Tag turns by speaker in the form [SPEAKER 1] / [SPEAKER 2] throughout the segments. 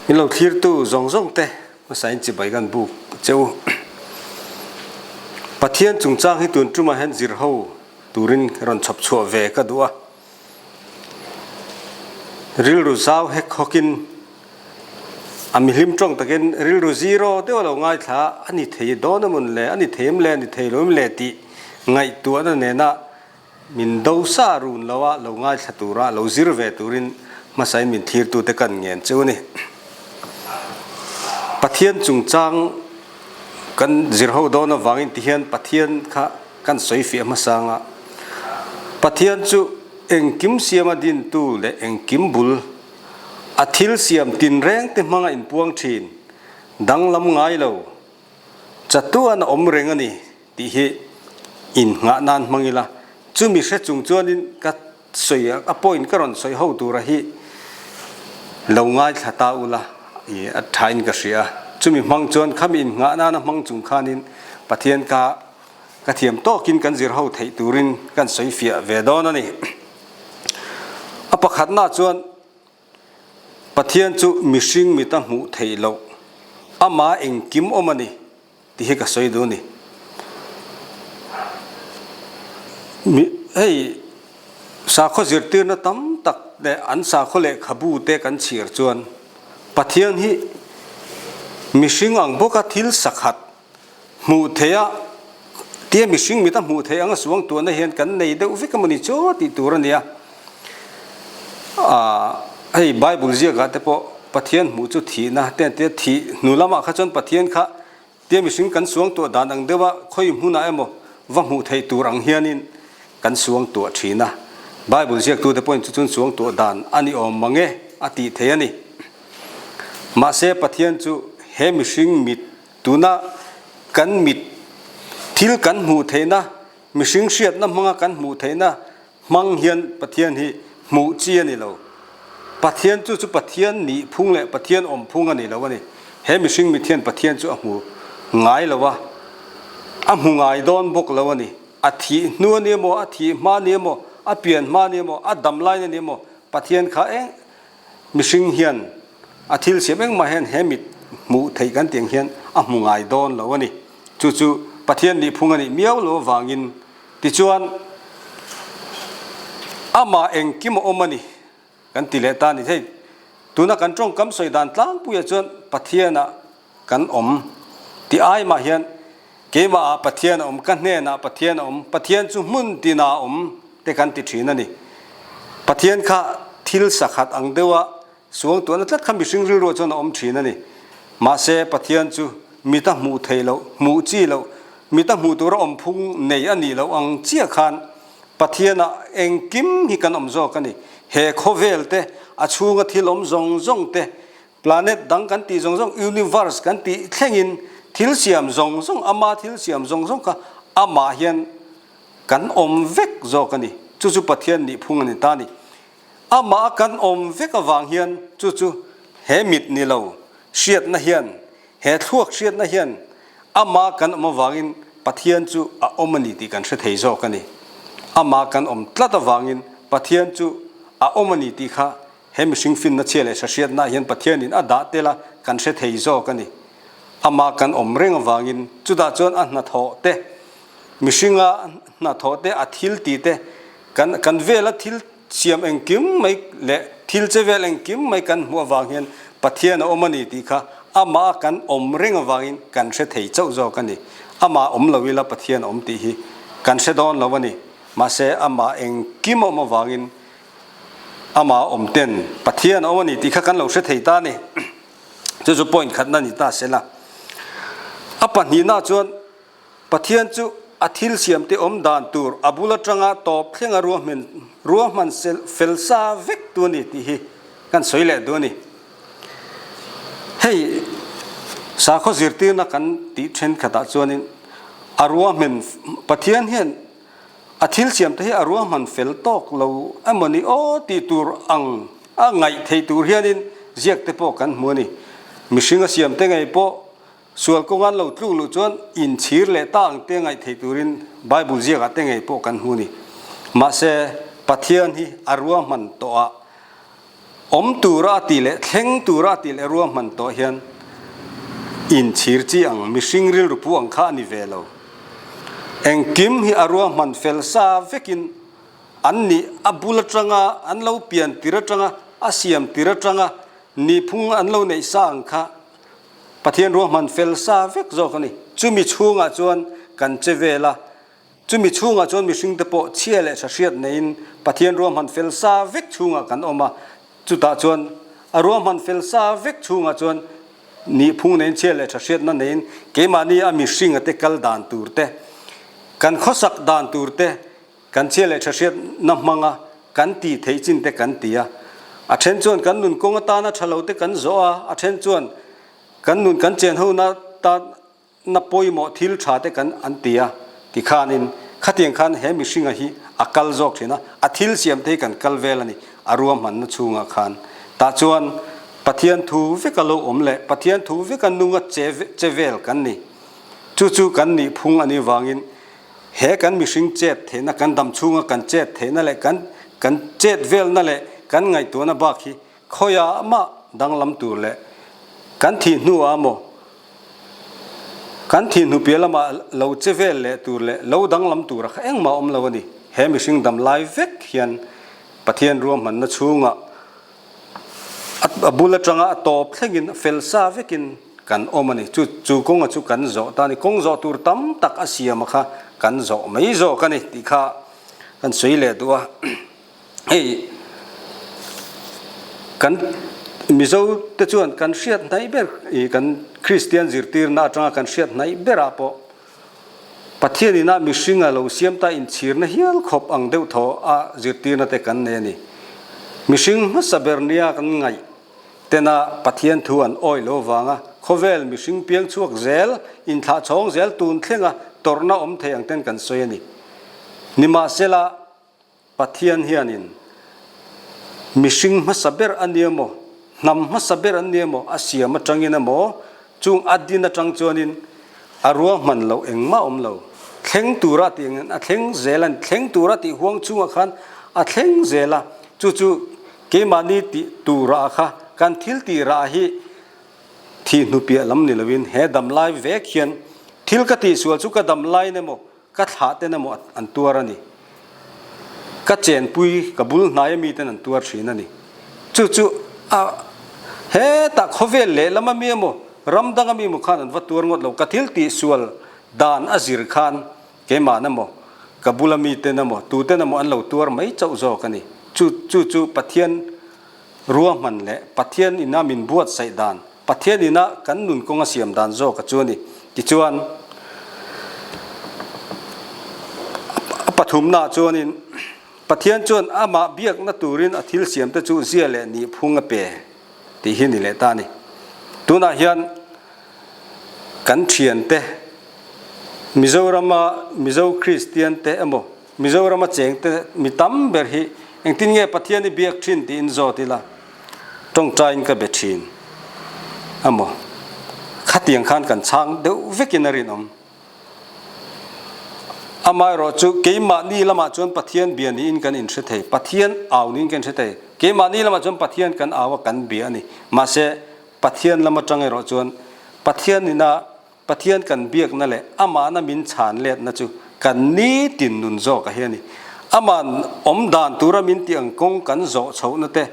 [SPEAKER 1] in lo thlir tu zawng zawng te hmasa in chibai gan buk cheu pathian chungchang hi tun tum ah hian zir ho turin rawn chhawp chhuah ve ka duh a. Rilru zau hek hawkin a mi hlim tawng takin rilru zero deuh a lo ngaithla a, a ni thei dawn amun le, a ni thei em le, a ni thei lo em le tih ngaihtuahna nena min do sa run lo a, lo ngaithla tura a lo zir ve turin hmasain min thirtute kan ngen cheu a ni. Pathian chungchang kan zir ho dawn avangin tihian Pathian kha, Kan sawi fiah hmasa anga Pathian chu engkim siama dintu leh engkim bul a thil siam tinrengte hmanga inpuang thin, danglam ngailo, chatuan a awm reng a ni tih hi in nghah nan hmang ila, chumi hre chung chuanin ka sawi a a point ka rawn sawi ho tura hi lo ngaithla ta ula i a tha in ka hria chumi hmang chuan khami in nghah nana hmang chung khan in Pathian ka ka thiam tawk in kan zir ho theih turin kan sawi fiah ve dawn a ni a pakhat na chuan Pathian chu mihring mit a hmuh theih loh, Amah engkim awm a ni tih hi ka sawi duh a ni. Mi hei sakhaw zirtirna tam tak leh an sakhaw lehkhabu te kan chhiar chuan Pathian hi mihring ang bawka thil sakhat, Hmuh theih a tia mihring mit a hmuh theih anga suang tuahna hian kan nei deuh vek emaw ni chaw a tih tur a nia. Aah hei Bible ziakah te pawh Pathian hmuh chu thihna te an ti a, thih hnu lamah kha chuan Pathian kha tia mihring kan suang tuah dan ang deuh a, khawi hmunah emaw va hmuh theih tur ang hianin kan suang tuah thin a. Bible ziaktute pawhin chu chun suang tuah dan a ni awm mange a tih theih a ni. Mahse Pathian chu he mihring mit, Tuna kan mit thil kan hmuh theihna, mihring hriatna hmanga kan hmuh theihna hmang hian Pathian hi hmuh chi a ni lo. Pathian chu chu Pathian nih phung leh Pathian awm phung a ni lo a ni. He mihring mit hian Pathian chu a hmu ngai lo a, a hmu ngai dawn bawk lo a ni. A thih hnu a nia maw, a thih hma a nia maw, a pian hma a nia maw, a dam lain a nia maw, Pathian kha eng Mihring hian a thil siam engmah hian he mit hmuh theih kan tih ang hian a hmu ngai dawn lo a ni. Chu chu Pathian nih phung a nih miau lo avangin. Tichuan, Amah engkim a awm a ni kan ti leh ta a ni thei. Tuna kan tawngkam sawi dan tlangpuiah chuan Pathianah. Kan awm. Ti ai mah hian, Keimah ah Pathian a awm, ka hnen ah Pathian a awm, Pathian chu hmun tin ah a awm te kan ti thin a ni. Pathian kha thil sakhat ang deuh a suang tuan a tlat kha mihring rilruah chuan a awm thin a ni. Mahse Pathian chu mit a hmuh theih loh, hmuh chi loh, mit a hmuh tur a awm phung nei a nih loh ang chiah khan Pathian ah engkim hi kan awm zawk a ni. He khawvel te, a chhung a thil awm zawng zawng te, Planet dang kan tih zawng zawng, Universe kan tih thlengin thil siam zawng zawng, ama thil siam zawng zawng kha amah hian kan awm vek zawk a ni. Chu chu Pathian nih phung a ni ta ni. Amah kan awm vek avang hian chu chu he mit ni lo hriatna hian, he thluak hriatna hian amah kan awm avangin Pathian chu a awm a ni tih kan hre thei zawk a ni. Amah kan awm tlat avangin Pathian chu a awm a ni tih kha He mihring finna chhia leh hrahriatnaah hian Pathianin a dah tel a, kan hre thei zawk a ni. Amah kan awm reng avangin, chutah chuan a hnathawh te, mihringa hnathawh te, a thil tih te, kan kan vela thil siam engkim mai leh thil che vel engkim mai kan hmuh avang hian Pathian a awm a ni tih kha Amah kan awm reng avangin kan hre thei chauh zawk a ni. Amah awm lo ila Pathian a awm tih hi kan hre dawn lo a ni. Mahse, Amah engkim a awm avangin, Amah awm ten Pathian a awm a ni tih kha kan lo hre thei ta a ni. Chu chu point khatna a ni ta sela, a pahnihna chuan Pathian chu a thil siamte awm dan tur a bul atanga tawp thlenga ruahman ruahman sel fel sa vek tu a ni tih hi kan sawi leh duh a ni. Hei sakhaw zirtirna kan tih thenkhatah chuanin a ruahman Pathian hian, A thilsiam te hi a ruahman fel tawk lo emaw ni aw tih tur ang a ngaih theih tur hianin ziak te pawh kan hmu a ni. Mihring a siam te ngei pawh sual kawnga an lo tluk luh chuan inchhir leh ta ang te ngaih theih turin Bible ziakah te ngei pawh kan hmu a ni. Mahse, Pathian hi a ruahman tawha Awm tura a tih leh thleng tura a tih leh rua hman tawh hian inchhir chi ang, mihring rilru pu ang kha a ni ve lo. Engkim hi a rua hman fel sa vekin an nih a bul atanga, an lo pian tir atanga, a siam tir atanga nihphung an lo neih sa ang kha Pathian rua hman fel sa vek zawk a ni. Chumi chhungah chuan kan che vel a. Chumi chhungah chuan mihringte pawh chhia leh tha hriat neiin Pathian ruahman fel sa vek chhungah kan awm a. Chutah chuan a ruahman fel sa vek chhungah chuan nih phung neiin chhia leh tha hriatna neiin keimahni a mihringa te kal dan tur te, kan khawsak dan tur te, kan chhia leh tha hriatna hmanga kan tih theih chin te kan ti a. A then chuan kan nun kawng atana tha lo te kan zawh a, a then chuan kan nun kan chen ho na tan Na pawimawh thil tha te kan an ti a ti khanin khatiang khan he mihringa hi a kal zawk thin a, a thil siam te hi kan kal vel a ni. A rua hmanna chungah khan tah chuan Pathian thu veka lo awm leh Pathian thu veka nunga che che vel kan ni. Chu chu kan nih phung a nih avangin he kan mihring chet theihna, kan dam chhunga kan chet theihna leh kan kan chet velna leh kan ngaihtuahna bak hi Khawia mah danglam tur leh kan thih hnua maw kan thih hnu piah lamah lo che vel leh tur leh lo danglam tura kha engmah a awm lo a ni. He mihring dam lai vek hian Pathian ruahmanna chhunga a bul atanga a tawp thlengin a fel sa vekin kan awm a ni. Chu chu kawnga chu kan zawh ta a ni. Kawng zawh tur tam tak a siama kha kan zawh mai zawk a ni tih kha kan sawi leh duh a. hei kan Mizo te chuan kan hriat hnai ber ih kan Kristian zirtirna atanga kan hriat hnai berah pawh Pathian ina mihringa lo siam ta inchhirna hial khawp ang deuh thawh a zirtirna te kan nei a ni. Mihring hmasa ber nia kan ngaih tena Pathian thu an awi lo vanga khawvel mihring piang chhuak zel, inthlah chhawng zel tun thlenga tawrhna awm thei ang ten kan sawi a ni. Nimahsela Pathian hianin mihring hmasa ber a nia maw, hnam hmasa ber an nia maw, a siam atangin emaw, chung a din atang chuanin a ruahman loh engmah awm lo. Thleng tura tih angin a thleng zel a ni. Thleng tura tih huang chunga khan a thleng zel a. Chu chu keimahni tih turah kha kan thil tirah hi thih hnupiah lam ni loin he damlai vek hian thil ka tihsual chu ka damlain emaw, Ka thlah ten emaw an tuar a ni. Ka chenpui ka bul hnaia miten an tuar thin a ni. Chu chu a hetah khawvel lehlam ami emaw ram dang ami emaw khan an va tuar ngawt lo. Ka thil tih sual dan a zir khan keimahna emaw ka bula miten emaw tuten emaw an lo tuar mai chauh zawk a ni. Chu chu chu Pathian ruahman leh Pathian ina min buatsaih dan Pathian ina kan nun kawng a siam dan zawk a chu a ni. Tichuan, a pathumnaah chuanin, Pathian chuan Amah biakna turin a thil siam te chu zia leh nih phung a pe? tih hi ni leh ta a ni. Tunah hian kan thiante, Mizorama Mizo Kristian te emaw, Mizorama chengte mi tam ber hi engtin nge Pathian i biak thin tiin zawt ila tawngtain ka be thin a maw? Khatiang khan kan chhang deuh vekin a rinawm. Amaherawh chu keimahni lamah chuan Pathian bia niin kan inhre thei, Pathian au niin kan hre thei. Keimahni lamah chuan Pathian kan au a, kan bia a ni. Mahse, Pathian lam atang erawh chuan Pathian ina. Pathian kan biakna leh Amahna min chhan letna chu kan ni tin nun zawk a hi a ni. Ama'n awm dan tura min tih ang kawng kan zawh chhohna te,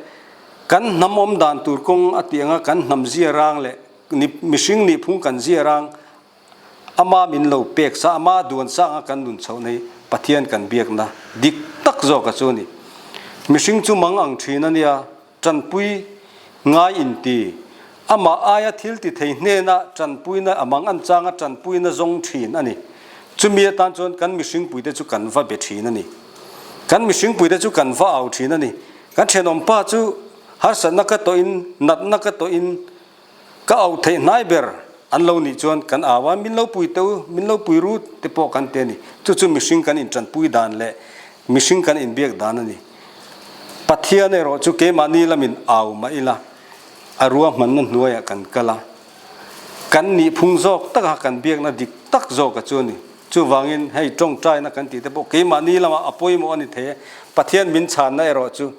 [SPEAKER 1] kan hnam awm dan tur kawng a tih anga kan hnam ziarang leh ni mihring nihphung kan ziarang Ama min lo pek sa, Ama duan sa anga kan nun chhohna hi Pathian kan biakna dik tak zawk a chu a ni. Mihring chu mang ang thin a nia. Tanpui, Ngai in ti. Amah aia thil ti thei hnena tanpuina a mang an changa tanpuina zawng thin a ni. Chumi atan chuan kan mihringpuite chu kan va be thin a ni. Kan mihringpuite chu kan va au thin a ni. Kan thenawm pa chu harsatna ka tawhin, natna ka tawhin, Ka au theih hnai ber an lo nih chuan kan au a, min lo pui teuh, min lo pui ru te pawh kan ti a ni. Chu chu mihring kan intanpui dan leh mihring kan inbiak dan a ni. Pathian erawh chu keimahni lamin au mah ila, a ruahmanna hnuaiah kan kal a, kan nih phung zawk taka kan biakna dik tak zawk a chu a ni. Chuvangin hei tawngtaina kan tih te pawh keimahni lamah a pawimawh a ni thei e. Pathian min chhanna erawh chu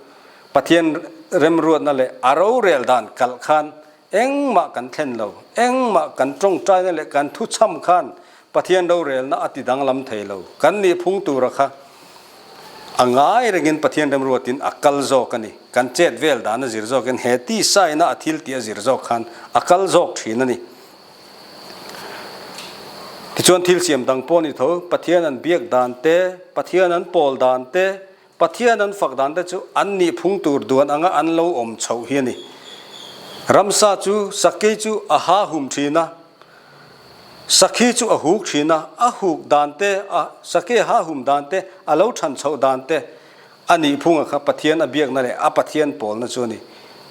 [SPEAKER 1] Pathian remruatna leh a rorel dan kalh khan engmah kan thlen lo, engmah kan tawngtaina leh kan thu cham khan Pathian rorelna a ti danglam thei lo. Kan nih phung tura kha a ngai rengin Pathian remruatin a kal zawk a ni. Kan chet vel dan a zir zawkin he tisaina a thil tih a zir zawk khan a kal zawk thin a ni. Tichuan thil siam dang pawh a ni tho, Pathian an biak dan te, Pathian an pawl dan te, Pathian an fak dan te chu an nih phung tur duan anga an lo awm chho hi a ni. Ramsa chu Sakkei chu a ha hum thin a, Sakhi chu a huk thin a, a huk dan te, a Sakkei a ha hum dan te, a lo than chhoh dan te a nih phunga kha Pathian a biakna leh a Pathian pawlna chu a ni.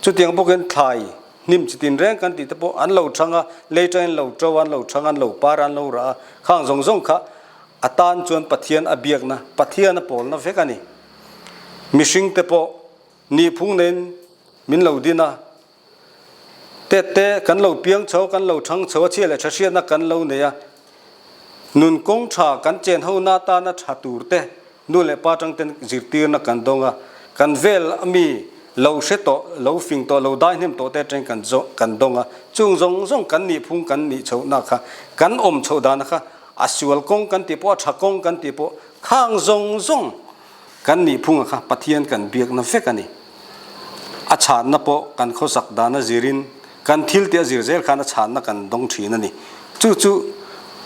[SPEAKER 1] Chutiang bawkin thlai hnim chi tin reng kan tih te pawh an lo thang a, lei tangin lo to a, an lo thang a, an lo par a, an lo rah a, khang zawng zawng kha A tan chuan Pathian a biakna, Pathian a pawlna vek a ni. Mihring te pawh ni phung neiin min lo din a, tet te kan lo piang chho, kan lo chhang chho, a chhia leh tha hriatna kan lo nei a, nun kawng tha kan chen ho na atana tha tur te nu leh pa tang ten zirtirna kan dawng a, kan vel ami lo hre tawh, lo fing tawh, lo daihnem tawh te atang kan dawng a, chung zawng zawng kan ni phung kan nih chhoh na kha, kan awm chhoh dana kha A sual kawng kan tih pawh, a tha kawng kan tih pawh, khang zawng zawng kan nih phunga kha Pathian kan biakna vek a ni. A chhanna pawh kan khawsak dan a zirin, kan thil teh a zir zel khan a chhanna kan dawng thin a ni. Chu chu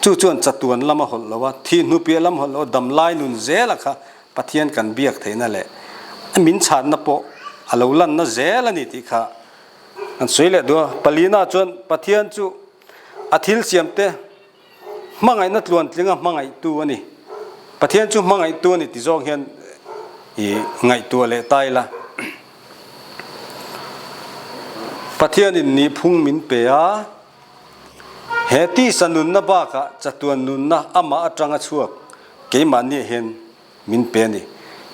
[SPEAKER 1] chu chuan chatuan lama hawlh loha, thi hnupiah lama hawlh loha, dam lai nun zela kha Pathian kan biak theihna leh a min chhanna pawh a lo lanna zel a ni tih kha kan sawi leh duh a. Pali naah chuan Pathian chu a thil siamte, Hmangaihna tluan tlinga hmangaihtu a ni. Pathian chu hmangaihtu a ni ti zawk hian i ngaihtuah leh ta ila. Pathianin nih phung min pe a. He tisa nunna bakah chatuan nunna amah atanga chhuak keimahni ah hian min pe a ni.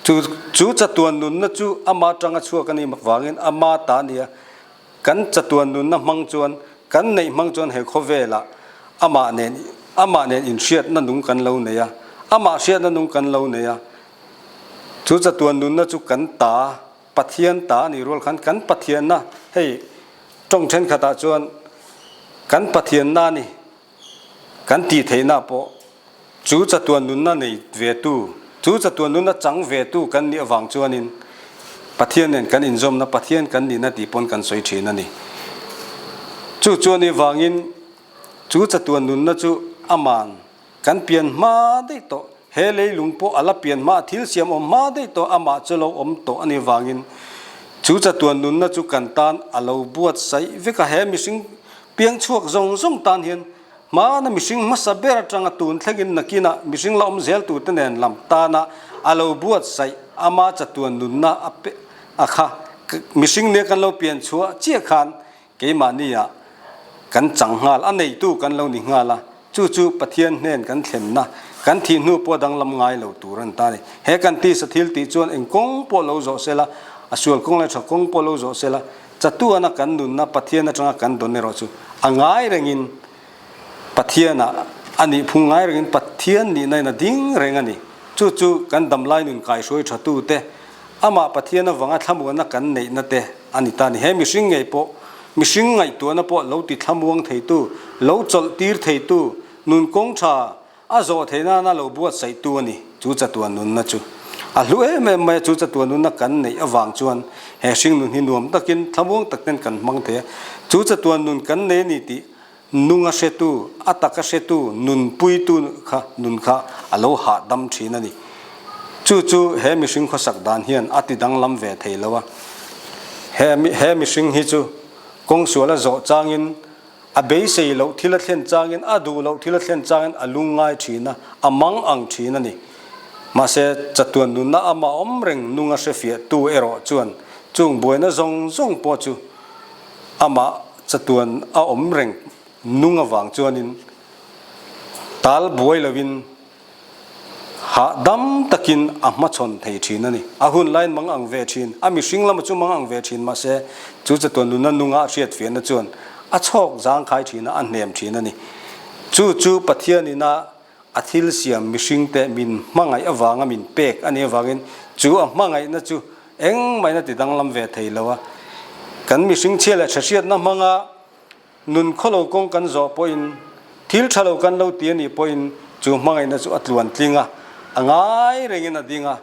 [SPEAKER 1] Chu chatuan nunna chu amah atanga chhuak a nih mak vangin amah ta a nia Kan chatuan nunna hmang chuan kan neih hmang chuan he khawvelah amah nen amah nen inhriatna nung kan lo nei a, amah hriatna nung kan lo nei a. Chu chatuan nunna chu kan ta, Pathian ta a nih rual khan kan Pathianna hei tawng thenkhatah chuan kan Pathianna a ni Kan tih theihna pawh chu chatuan nunna nei ve tu, chu chatuan nunna chang ve tu kan nih avang chuanin Pathian nen kan inzawmna, Pathian kan nihna tih pawn kan sawi thin a ni. Chu chuan i vangin chu chatuan nunna chu a man kan pian hma daih tawh, he leilung pawh a la pian hma, thil siam awm hma daih tawh amah chu lo awm tawh a ni vangin chu chatuan nunna chu kan tan a lo buatsaih vek a. He mihring Piang chhuak zawng zawng tan hian hmana mihring hmasa ber atanga tun thlengin nakina mihring la awm zeltute nen lam tana a lo buatsaih ama chatuan nunna a pe a kha. Mihring nia kan lo pian chhuah chiah khan keimahnia kan chang nghal a neitu kan lo ni nghal a, Chu chu Pathian hnen kan thlenna, kan thih hnu pawh danglam ngai lo tur a ni ta ni. He kan tisa thil tih chuan eng kawng pawh lo zawh sela, a sual kawng leh a tha kawng pawh lo zawh sela, chatuana kan nunna Pathian atanga kan dawn erawh chu, a ngai rengin Pathiana a nih phung ngai rengin Pathian nihna in a ding reng a ni. Chu chu kan damlai nun kaihruai thatute, amah Pathian avanga thlamuanna kan neihna te, A ni ta ni, he mihring ngei pawh, mihring ngaihtuahna pawh lo ti thlamuang theitu, lo chawlh tir theitu, nun kawng tha a zawh theih nana lo buatsaihtu a ni chu chatuah nunna chu. A hlu em em mai a, chu chatuah nunna kan neih avang chuan he hringnun hi nuam takin thlamuang tak ten kan hmang thei a, chu chatuah nun kan nei a ni tih Hnung a hretu, a tak a hretu, nun puitu kha nun kha a lo hahdam thin a ni. Chu chu he mihring khawsak dan hian a ti danglam ve thei lo a. He he mihring hi chu kawng sual a zawh changin, a beisei loh thil a thlen changin, a duh loh thil a thlen changin a lung ngai thin a, a mang ang thin a ni. Mahse, chatuan nunna ama awm reng hnung a hrefiah tu erawh chuan chung buaina zawng zawng pawh chu amah Chatuan a awm reng nung avang chuanin tal buai lovin hahdam takin a hmachhawn thei thin a ni. A hun lain mang ang ve thin, a mihring lama chu mang ang ve thin mahse chu chatuan nuna nunga a hriatfiahna chuan a chhawk zangkhai thina a hnem thin a ni. Chu chu Pathianin a. A thil siam mihringte min hmangaih avanga min pek a nih avangin chu a hmangaihna chu engmahna ti danglam ve thei lo a. Kan mihring chhia leh tha hriatna hmanga nun khaw lo kawng kan zawh pawhin, thil tha lo kan lo ti a nih pawhin chu hmangaihna chu a tluan tling a, a ngai rengin a ding a.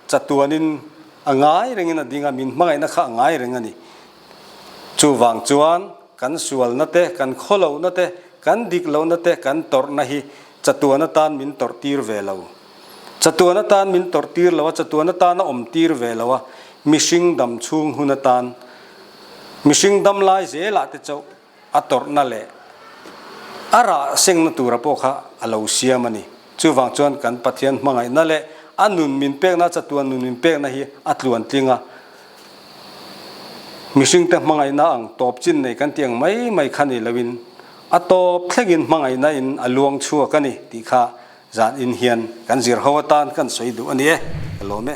[SPEAKER 1] Chatuanin a ngai rengin a ding a, min hmangaihna kha a ngai reng a ni. Chuvang chuan kan sualna te, kan khaw lohna te, kan dik lohna te, kan tawrhna hi chatuan atan min tawrh tir ve lo. Chatuan atan min tawrh tir lo a, chatuan atan a awm tir ve lo a, mihring dam chhung hun atan, mihring dam lai zelah te chauh, A tawrhna leh a rah sengna tura pawh kha a lo siam a ni. Chuvang chuan kan Pathian hmangaihna leh a nun min pekna, a chatuan nun min pekna hi a tluan tling a. Mihringte hmangaihna ang tawp chin nei kan tih ang mai mai kha ni loin a tawp thlengin hmangaihna in a luang chhuak a ni tih kha zan in hian kan zir ho atan kan sawi duh a ni e. Ka lawm e.